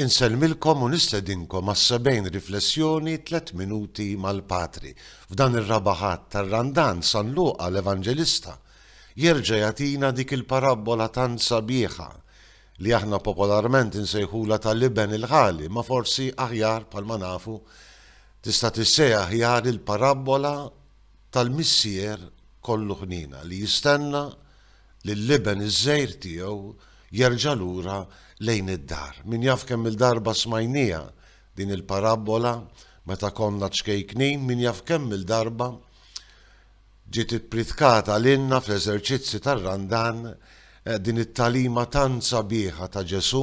Insellmilkom u nistedinkom għas-sebgħin riflessjoni Tliet Minuti mal-Patri. F'dan ir-raba' Ħadd tar-Randan, San Luqa, l-Evanġelista, jerġa' jagħtina dik il-parabbola tant sabiħa li aħna popolarment insejħulha tal-Iben il-Ħali, ma forsi aħjar, bħalma nafu, tista' tissejjaħ aħjar il-parabbola tal-Missier kollu ħniena li jistenna lill-iben iż-żgħir tiegħu jerġa' lura lejn id-dar. Min jaf kemm-il darba smajnieha din il-parabbola meta konna ċkejknin, min jaf kemm-il darba ġiet ippritkata lilna fl-eżerċizzi tar-Randan din it-tagħlima tant sabiħa ta' Ġesù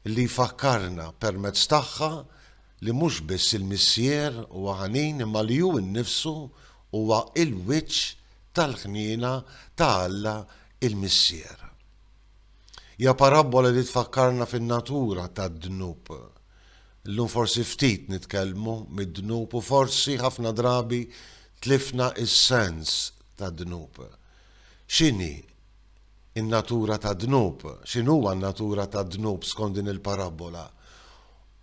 li jfakkarna permezz tagħha li mhux biss il-Missier huwa ħanin imma li hu nnifsu huwa l-wiċċ tal-ħniena ta' Alla l-Missier. Hija parabbola li tfakkarna fin-natura tad-dnub. Illum forsi ftit nitkellmu mid-dnub u forsi ħafna drabi tlifna s-sens tad-dnub. X'inhi n-natura tad-dnub? X'inhuwa n-natura tad-dnub skont din il-parabbola?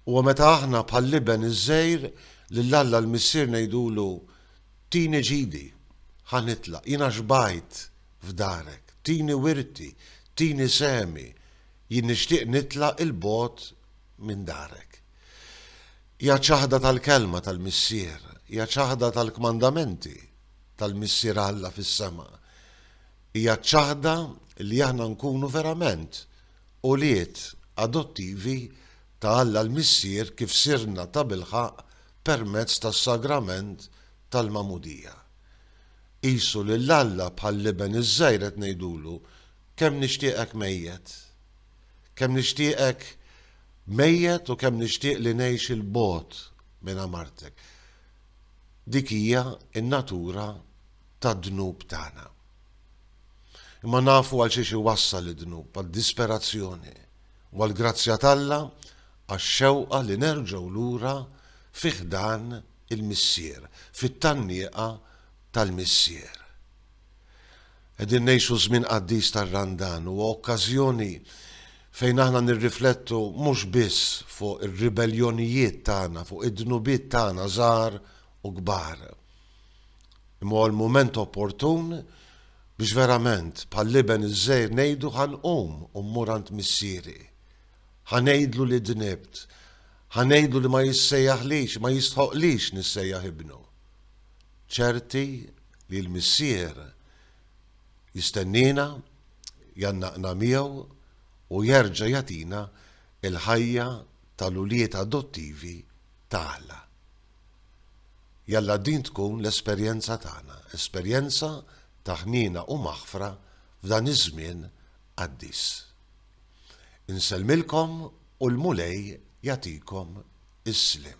Huwa meta aħna bħall-iben iż-żgħir lil Alla l-Missier ngħidulu, Tini ġidi, ħa nitlaq, jiena xbajt f'darek, tini wirti, tini sehmi, jien nixtieq nitlaq 'il bogħod minn darek. Hija ċ-ċaħda tal-Kelma tal-Missier, hija ċ-ċaħda tal-kmandamenti tal-Missier Alla fis-sema. Hija ċ-ċaħda li aħna nkunu verament ulied adottivi ta' Alla l-Missier kif sirna tabilħaqq permezz tas-sagrament tal-magħmudija. Qisu lil Alla bħall-iben iż-żgħir qed ngħidulu, Kemm nixtieqek mejjet! Kemm nixtieqek mejjet u kemm nixtieq li ngħix 'il bogħod minn għamartek. Dik hija n-natura tad-dnub tagħna. Imma nafu għalxiex iwassal id-dnub, għad-disperazzjoni. u għall-grazzja t'Alla għax-xewqa li nerġgħu lura fi ħdan il-Missier, fit-tgħannieqa tal-Missier. Qegħdin ngħixu żmien qaddis tar-Randan, huwa okkażjoni fejn aħna nirriflettu mhux biss fuq ir-ribelljonijiet tagħna, fuq id-dnubiet tagħna żgħar u kbar, Imma huwa l-mument opportun biex verament, bħall-iben iż-żgħir ngħidu ħa nqum u mmur għand Missieri. Ħa ngħidlu li dnibt. Ħa ngħidlu li ma jissejjaħlix, ma jistħoqqlix nissejjaħ ibnu. Ċerti li l-Missier jistenniena, jgħannaqna miegħu u jerġa' jagħtina l-ħajja tal-ulied adottivi ta' Alla. Jalla din tkun l-esperjenza tagħna, esperjenza ta' ħniena u maħfra f'dan iż-żmien qaddis. Insellmilkom u l-Mulej jagħtikom is-sliem.